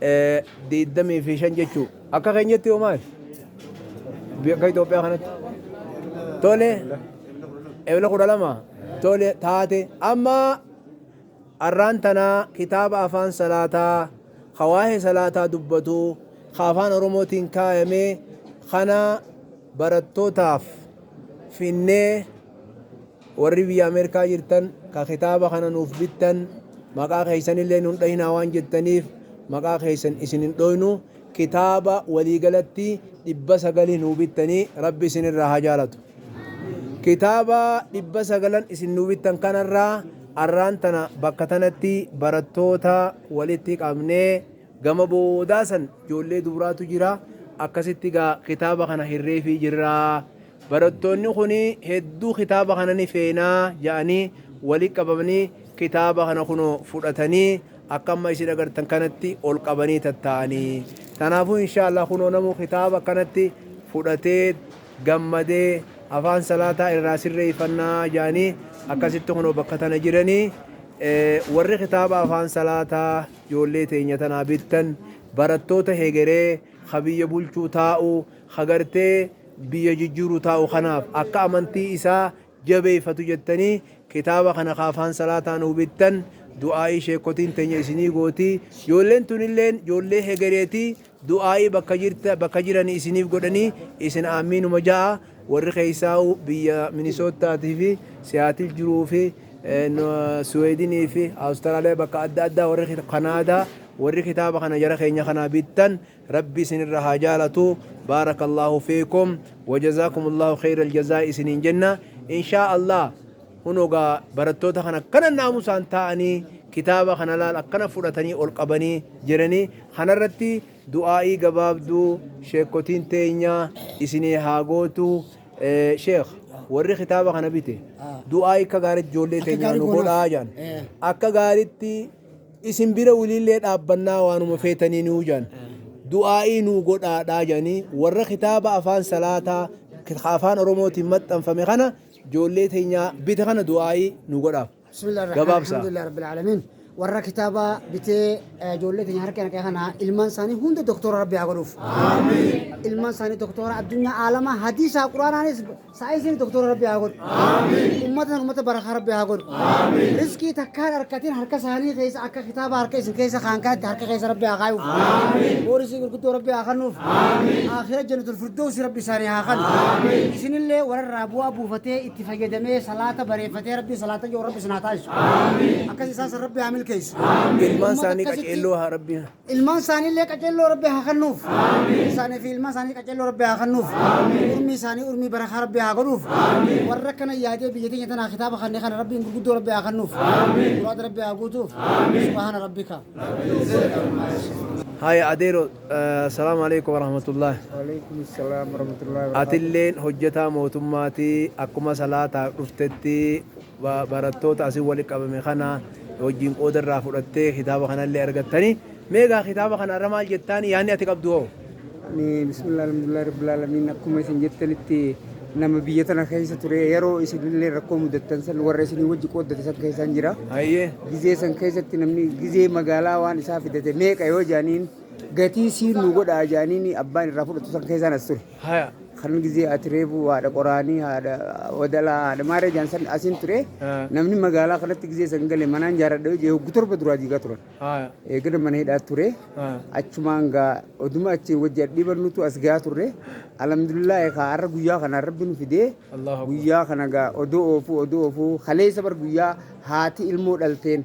25 jechuu akka keenyatti hoo maal akka Itoophiyaa kanatti tole ebla 12 tole taate amma arraan tanaa kitaaba afaan salaataa hawaa'ee salaataa dubbatu ka afaan oromootiin kaayamee kana barattootaaf finnee Warri biyya Ameerikaa jirtan ka kitaaba kana nuuf bittan, maqaa keessanillee nun dhayinaa waan jettaniif, maqaa keessan isin hin dhooynu. Kitaaba walii galatti 900 nuu bittanii Rabbi isin irraa haa jaalatu. Kitaaba 900n isin nuu bittan kana irraa arraan tana bakka tanatti barattoota walitti qabnee gama boodaa san ijoollee dubraatu jira akkasitti gaa kitaaba kana hirreefii jirra. Barattoonni kun hedduu kitaaba kana ni feena ja'anii wali qabamanii kitaaba kana kunoo fudhatanii akka amma isin agartan kanatti ol qabanii tatta'anii. Tanaafuu inshaa Allah kunoo namuu kitaaba akkanatti fudhatee gammadee afaan salaataa irraa sirreeffannaa ja'anii akkasitti kunoo bakka tana jiranii. Warri kitaaba afaan salaataa ijoollee teenya tanaa bittan barattoota hegeree ka biyya bulchuu taa'u ka gartee biyya jijjiiru taa'u kanaaf akka amantii isaa jabeeyfatu jettanii kitaaba kana ka afaan salaataa nuu bittan du'aa'ii sheekkotiin teenya isinii gooti joolleen tunilleen joollee hegereeti du'aa'ii bakka jirta bakka jirani isiniif godhanii isin aammiinuma ja'a warri keeysaa'u biyya minisoottaatii fi siyaatil jiruu fi suweedinii fi awustiraaliyaa bakka adda addaa warri kanaadaa warri kitaaba kana jara keenya kanaa bittan Rabbi isin irra haa jaalatu Baarakallaahu fiikum Wajazaakumullahu kheeyral jazaa isiniin jenna Inshaa Allah Kunoo gaa barattoota kana akkana naamusaan taa'anii kitaaba kana laal akkana fudhatanii ol qabanii jiranii kanarratti du'aa'ii gabaabduu sheekkotiin teenya isinii haa gootu Eh, sheekh warri kitaaba kana bite du'aa'ii akka gaariitti ijoollee Akka teenya gaarii nu godhaa. godhaa jaan Eh. akka gaariitti isin bira wiliillee dhaabbannaa waanuma feetanii nuu jaan du'aa'ii nuu godhaadhaa jaanii warra kitaaba afaan salaataa afaan oromootiin maxxanfame kana joollee teenyaa bite kana du'aa'ii nuu godhaaf gabaabsa. Alhamdulillah Rabbil Alamin. Warra kitaaba bitee ijoollee keenya harka naqee kana ilmaan isaanii hunda doktora Rabbi haa godhuuf. Ilmaan isaanii doktora addunyaa aalamaa hadiisaa quraanaanis Saayinsiin doktora rabbi haa godhu. Ummata ummata barakaa rabbi haa godhu. Riskii takkaan harkatiin harka isaanii keessa akka kitaaba harka isin keessa kaan kanatti harka keessa rabbi haa kaayuuf. Boorisii gurguddoo rabbi haa kannuuf. Akhira jannatul firdoosi rabbi isaanii haa kannu. Isinillee warra bu'aa buufatee itti fayyadamee salaata bareeffatee rabbi salaata yoo rabbi isin haa taasisu. Akkas isaan san rabbi haa milkeessu. Ilmaan Ummata isaanii akkasitti- qaceelloo haa rabbiin. Ilmaan isaaniillee qaceelloo Rabbi haa kennuuf. Isaanii fi ilmaan isaanii qaceelloo Rabbi haa kennuuf. Urmii isaanii urmii barakaa Rabbi haa godhuuf. Warra kana yaadee biyya teenya tanaa kitaaba kannee kana Rabbiin gurguddoo Rabbi haa kennuuf. Muraada Rabbi haa guutuuf. Subhaana Rabbika. Haya adeero salaamu alaikum warahmatullahi. Waalaikum salaam warahmatullahi wabarakatuh. Atilleen hojjetaa mootummaatii akkuma salaataa dhuftetti barattoota asin wali qabame kana wajjin qooda irraa fudhattee kitaaba kanallee argattani mee egaa kitaaba kana irra maal jettaan yaanni ati qabdu hoo? Ani bismillah alhamdulillah rabbil alamin akkuma isin jettanitti nama biyya tana keessa ture yeroo isinillee rakkoo mudattan san warra isinii wajji qooddate san keessaan jira. Hayyee. Gizee san keessatti namni gizee magaalaa waan isaa fidate meeqa yoo jaaniin gatii siin nu godhaa jaaniin abbaan irraa fudhatu san keessaan as ture. Haya. Kan gizee ati reefu haadha qoraanii haadha wadalaa haadha maaree jaan san asin ture Ah. namni magaalaa kanatti gizee san gale manaan jaaradha yoo jee hoggu torba duraa diigaa turan. Haya. Eegana mana hidhaa ture Ah. achumaan gaa oduma achiin wajji adhiiban nutu as gaa turre alhamdulillah kaa har'a guyyaa kana rabbi nu fidee Allahu Akbar. guyyaa kana gaa odoo oofuu odoo oofuu kaleessa bar guyyaa haati ilmoo dhalteen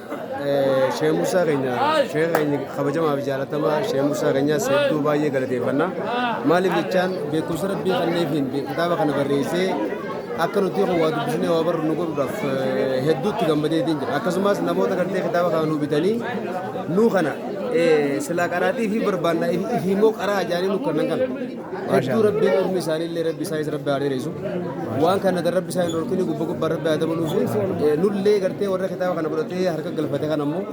Shee Muusaa keenya shee keenya kabajamaa fi jaalatamaa shee Muusaa keenyaas hedduu baay'ee galateeffanna. Maaliif jechaan beekumsa rabbii kanneefiin kitaaba kana barreessee akka nuti kun waa dubbisnee waa barru nu godhuudhaaf eh, hedduutti gammadeetiin jira. Akkasumas namoota gartee kitaaba kana nu bitanii nuu kana eh, silaa qaraatii fi barbaannaa ifi- ifi immoo qaraa ajaa'anii nu kennan kana. hedduu rabbiin ilmi isaanii illee rabbi isaaniis rabbi haa dheeressu waan kana kan rabbi isaanii dhorkini gubba gubbaa rabbi haa dabaluuf nullee gartee warra kitaaba kana godhatee harka galfate kan ammoo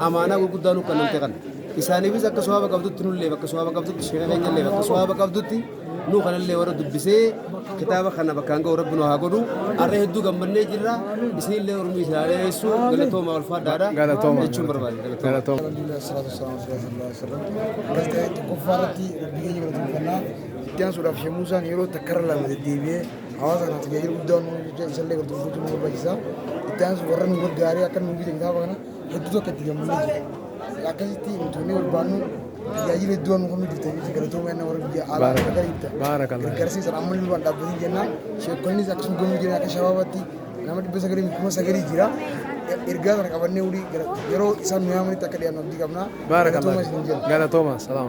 amaanaa gurguddaa nu kannamte kana isaaniifis akka sowaaba qabdutti nullee bakka sowaaba qabdutti sheeka keenya illee bakka sowaaba qabdutti nu kanallee warra dubbisee kitaaba kana bakkaan ga'u rabbi nu haa godhu har'a hedduu gammannee jirra isinillee ormi isaa dheeressu galatoomaa ulfaadhaadha jechuun barbaade galatoomaa. Itti aansuudhaaf Sheek Muusaan yeroo takka irra lama deddeebi'ee hawaasa kanaaf tajaajila guddaa waan nuuf jecha isallee gartoomfachuu nu barbaachisa. Itti aansu warra nu gargaaree akka nu bite kitaaba kana hedduu tokko itti gammannee jira. Akkasitti nutumee barbaannu tajaajila hedduu waan nu qabnu jirtan jechuudha galatoomee anna warra biyya alaa akka gariitti gargaarsiisan ammallee waan dhaabbatee jennaan sheekonnis akkasuma gomii jiran akka shabaabaatti Nama dhibba sagalii fi kuma sagalii jira. Ergaa kana qabannee yeroo isaan nu yaamanitti akka dhiyaannu abdii qabna. Baarakallah. Galatooma. Salaama.